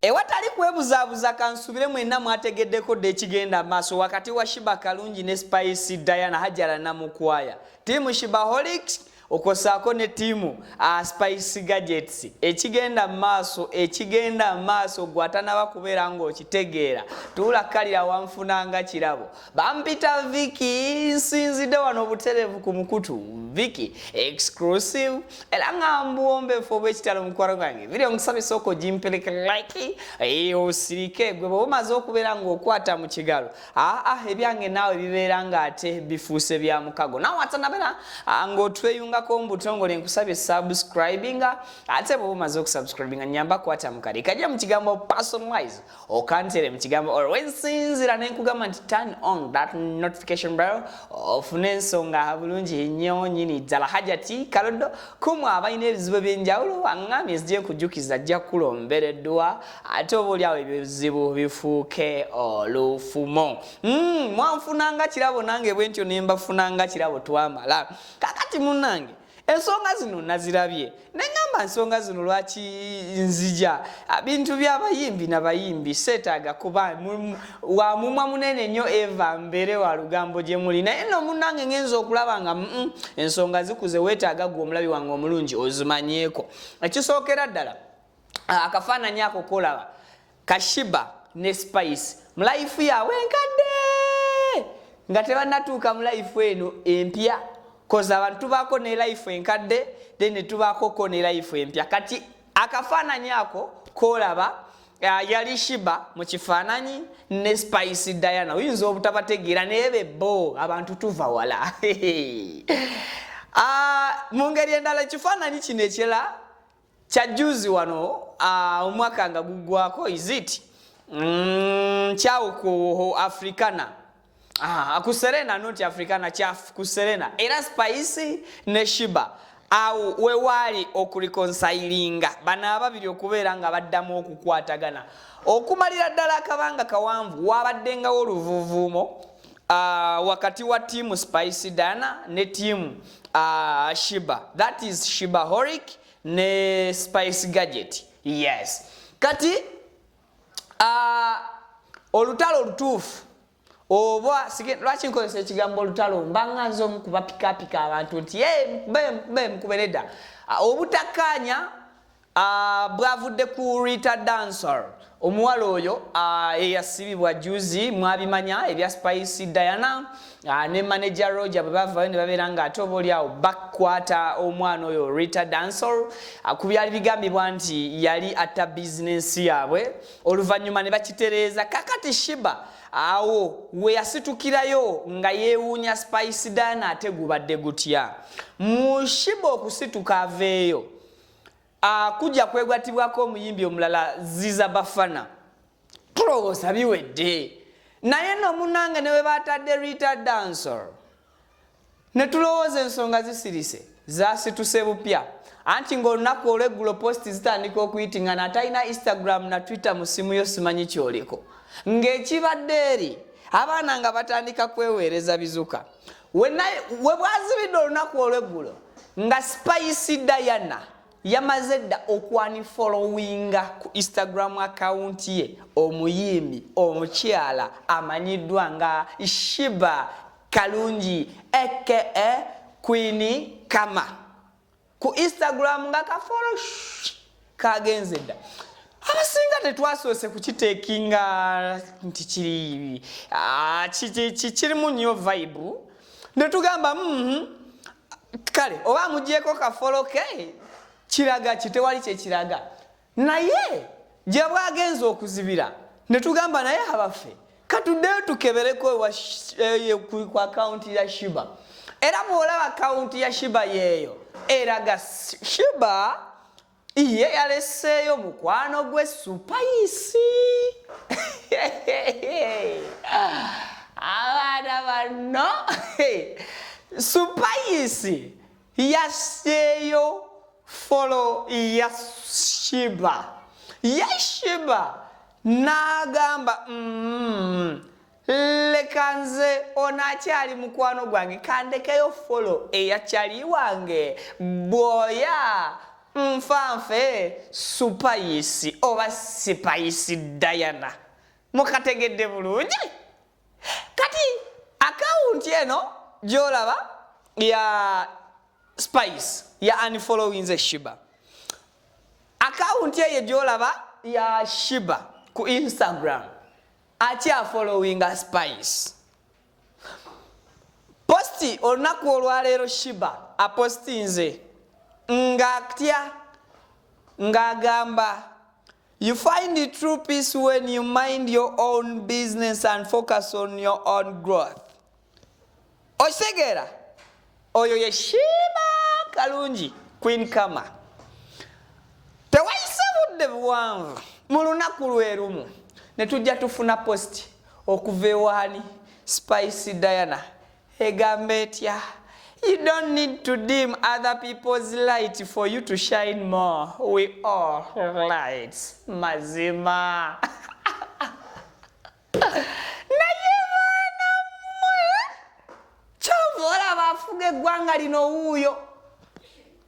ewatali kwebuzaabuza kansubire mwenna mwategeddeko dda ekigenda maaso wakati wa shiba kalungi ne spice diana hajara namukwaya tiimu shibaholics okwo ssaako ne ttiimu uh, spice gadgets ekigenda mu maaso ekigenda mu maaso gwe atanaba kubeera ng'okitegeera tuula kkalira wanfunanga kirabo bampita viki nsinzidde wano obutereevu ku mukutu viki exclusive era nga mbuwombefu obwekitalo mukwano gwange vidiyo nkusabisa okugimpereka like osirike gwe bwe bumaze okubeera ng'okwata mu kigalo aa ebyange naawe bibeera ng'ate bifuuse bya mukago naawe atanabera ng'otweyungako mbutongole nkusabye subscribinga ate bwoba omaze okusubscribinga nyamba kwata mukale kajja mu kigambo personalize okantere mu kigambo or wensinzira ne nkugamba nti turn on that notification bell ofune ensonga bulungi nnyo nyini ddala hajati kaloddo kumu abalina ebizibu eby'enjawulo aŋŋamye zijja kujjukiza ajja kukulombereddwa ate oba olyawo ebizibu bifuuke olufumo mm, mwanfunanga kirabo nange bwentyo nembafunanga kirabo twamala kakati munange ensonga zino nazirabye neŋamba nsonga zino lwaki nzija bintu byabayimbi nabayimbi seetaaga kuba wamumwa munene nnyo eva mbeere wa lugambo gye muli naye no munange ŋenza okulaba nga mm, ensonga zikuze weetaaga gwe omulabi wange omulungi ozimanyeeko ekisookera ddala ah, akafaananyi ako kolaba kashiba ne spice mu life yaabwe enkadde nga tebanatuuka mu life eno empya koz abantu tubaako ne life enkadde then netubaakoko ne life empya kati akafaananyi ako kolaba ah, yali shiba mu kifaananyi ne spice diana oyinza obutabategeera naye bebbo abantu tuva wala Ah, mu ngeri endala ekifaananyi kino ekirala kyajjuzi wano uh, omwaka nga guggwako isit mm, kyawo ku africana ah, ku serena not africana kyaf ku serena era spice ne shiba awo wewaali okurikonsayiringa bano ababiri okubeera nga baddamu okukwatagana okumalira ddala akabanga kawanvu wabaddengawo oluvuvuumo uh, wakati wa tiimu Spice Dana ne tiimu uh, Shiba that is Shiba Horic ne Spice Gadget yes kati uh, olutalo olutuufu oba lwaki nkozesa ekigambo olutalo mbanga nze omu kubapikapika abantu nti mukube mukube nedda uh, obutakkaanya Bwavudde ku Rita Dancer omuwala oyo eyasibibwa juzi mwabimanya ebya Spice Diana ne manager Roger bwe bavayo ne babeera nga ate oba olyawo bakwata omwana oyo Rita Dancer ku byali bigambibwa nti yali atta bizinensi yaabwe oluvannyuma ne bakitereeza kakati Shiba awo we yasitukirayo nga yeewuunya Spice Diana ate gubadde gutya mushiba okusituka aveeyo Akugya kwegwattibwako omuyimbi omulala Ziza Bafana. Tulowooza biwedde naye no munange ne bwe batadde Rita Dancehall ne tulowooza ensonga zisirise zasituse bupya anti ng'olunaku olw'eggulo posti zitandika okuyitingana atalina Instagram na Twitter mu ssimu yo simanyi kyoliko ng'ekibadde eri abaana nga batandika kweweereza bizuka. webwazibidde olunaku olweggulo nga spice diana yamaze dda okwani followinga ku instagram akawunti ye omuyimbi omukyala amanyiddwa nga shiba kalungi aka queeni kama ku instagram nga kafolo kagenze dda abasinga tetwasoose kukiteekinga nti kiri ah, kirimu nnyo vibe netugamba mm-hmm. kale oba amugyeko kafolo ke kiraga kitewali kyekiraga naye gye bwagenze okuzibira ne tugamba naye abaffe katuddeyo tukebereko eh, eh, ku akawunti ya shiba era bw'olaba akawunti ya shiba yeeyo eraga shiba iye yaleseeyo mukwano gwe supayisi abaana banno supayisi yasseeyo folo ya shiba ye shiba n'agamba mm, leka nze ono akyali mukwano gwange kandekeyo folo eya kyali wange bwoya nfanfe supayisi oba sipayisi dayana mukategedde bulungi kati akawunti eno gyolaba ya spice ya unfollowinze shiba akawunti eyo gyolaba ya shiba ku instagram akyafollowinga spice posti olunaku olwaleero shiba apostinze ng'atya ng'agamba You find the true peace when you mind your own business and focus on your own growth. Okitegera oyo ye Shiba Kalungi Queen Kama. Tewayise budde buwanvu mu lunaku lwe lumu ne tujja tufuna post okuva ewaani Spice Diana Egamba etya? You don't need to dim other people's light for you to shine more. We all lights. Mazima. Naye mwana mwe. Chovola bafuge gwanga lino uyo.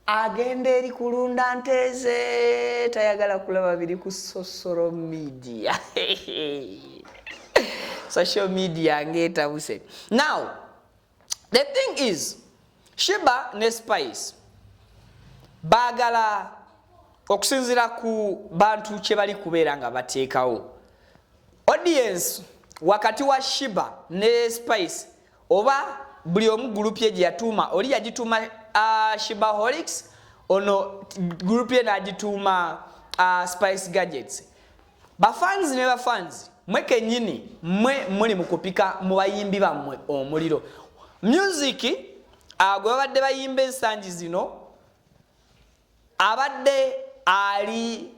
agenda eri kulunda nteeze tayagala kulaba biri ku sosolo media social media ngetabuse now the thing is shiba ne spice bagala okusinzira ku bantu kyebali kubeera nga bateekawo audience wakati wa shiba ne spice oba buli omu group ye gyeyatuuma oli yagituuma uh, shibaholics ono group ye nagituuma uh, spice gadgets bafans ne bafans mwe kenyini mwe muli mukupika mu bayimbi bammwe omuliro music uh, gwe babadde bayimba ensangi zino Abadde ali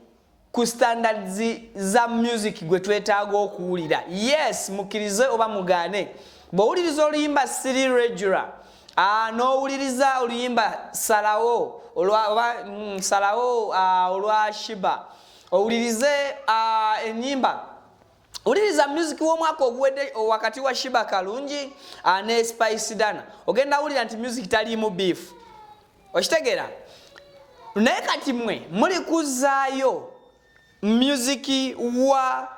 ku standards za music gwe twetaaga okuwulira. Yes, mukirize oba mugane. Bwowuliriza oluyimba siri regular, ah, n'owuliriza oluyimba salawo olwa oba mm, salawo ah, olwa Shiba. Owulirize ah, enyimba Uliriza music w'omwaka oguwedde wakati wa Shiba Kalungi ah, ne Spice Dana. Ogenda wulira nti music taliimu beef. okitegeera naye kati mwe muli kuzaayo musiki wa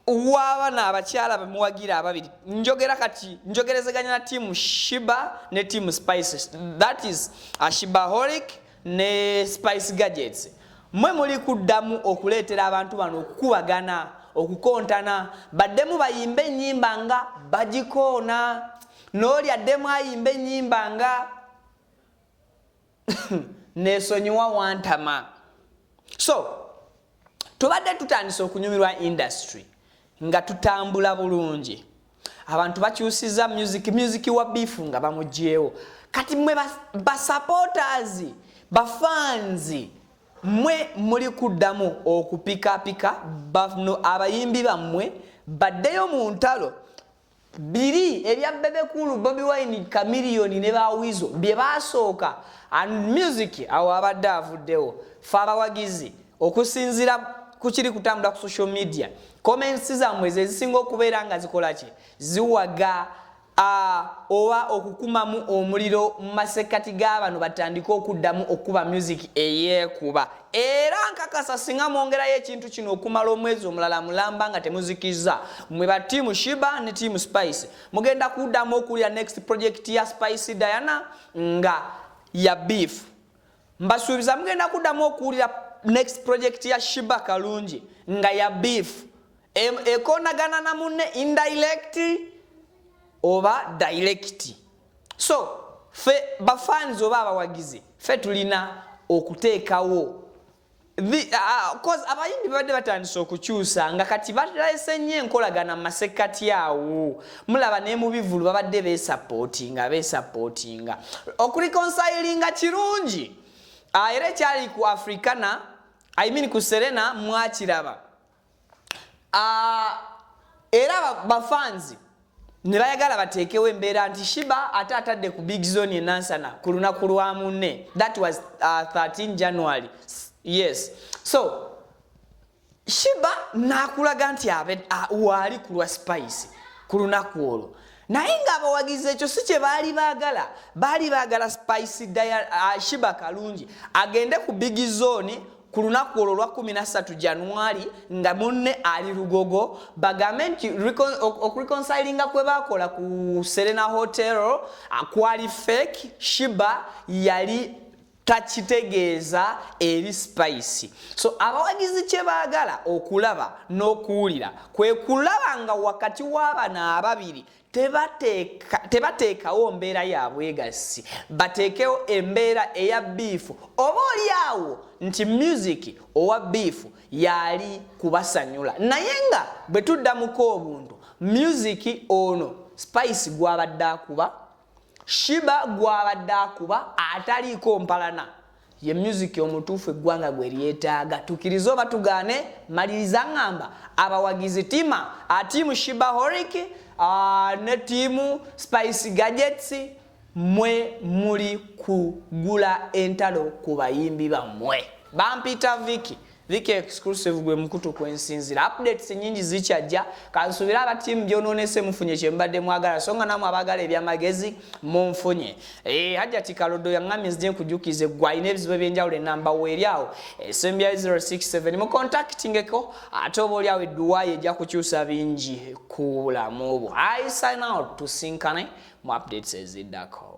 wabana abakyala bemuwagira ababiri njogera kati njogerezeganya na tiamu shiba ne tiamu spices that is ashiba horic ne spice gadgets mwe muli kuddamu okuleetera abantu bano okukubagana okukontana baddemu bayimba enyimba nga bagikoona nooli addemu ayimba enyimba nga nesonyiwa wantama so tubadde tutandise okunyumirwa industry nga tutambula bulungi abantu bakyusiza music music wa bifu nga bamugyewo kati mwe basupporters bafanzi mwe muli kuddamu okupikapika bano abayimbi bammwe baddeyo mu ntalo Biri ebya Bebe Cool, Bobi Wine, Chameleone ne ba Weasel bye baasooka and music awo abadde avuddewo. Ffe abawagizi okusinziira ku kiri kutambula ku social media comments zammwe ze zisinga okubeera nga zikola ki ziwaga oba okukumamu omuliro mu masekkati g'abano batandike okuddamu okukuba music eyeekuba Era nkakasa singa mwongerayo ekintu kino okumala omwezi omulala mulamba nga temuzikizza mwe ba team shiba ne team spice mugenda kuddamu okuwulira next project ya spice diana nga ya beef mbasuubiza mugenda kuddamu okuwulira next project ya shiba kalungi nga ya beef ekonagana na munne indirect oba direct so fe ba fans oba abawagizi fe tulina okuteekawo The, uh, cause abayimbi babadde batandise okukyusa nga kati balese nnyo enkolagana mu masekkati awo mulaba ne mu bivulu babadde besapootinga besapootinga okulikonsayilinga kirungi uh, era ekyali ku africana I mean ku serena mwakiraba ah, era bafanzi ne bayagala bateekewo embeera nti shiba ate atadde ku big zone enansana ku lunaku lwa munne that was uh, ah, 13 january yes so shiba nakulaga nti ah, waali kulwa spice ku lunaku olwo naye ng'abawagizi ekyo si kye baali baagala baali baagala spice daya uh, shiba kalungi agende ku big zone ku lunaku olwo olwa 13 januari nga munne ali lugogo bagambe nti okureconsilinga kwe bakola ku serena hotel kwali fake shiba yali takitegeeza eri spice so abawagizi kye baagala okulaba n'okuwulira kwe kulaba nga wakati w'abana ababiri tebateekawo mbeera ya bwegassi bateekewo embeera eya biifu oba oli awo nti myuziki owa biifu yaali kubasanyula naye nga bwe tuddamuko obuntu myuziki ono spice gwabadde akuba shiba gwabadde akuba ataliiko mpalana ye music omutuufu eggwanga gwe lyetaaga tukirize oba tugaane maliriza ngamba abawagizi tima atiimu shiba horic ne tiimu spice gadgets mwe muli kugula entalo ku bayimbi bammwe bampita viki Like exclusive gwe mukutu kwensinzira updates nyingi zikyajja kansubira aba team byononese mufunye kyembadde mwagala songa namwe abagala ebyamagezi munfunye eh hajati kalodo yangami nzije kujukize gwaine ebizibu ebyenjawulo enamba weeri awo esembya eh, 067 mu contactingeko ate oba oli awo edduwa ye ejja kukyusa bingi ku bulamu bwo i sign out tusinkane mu updates eziddako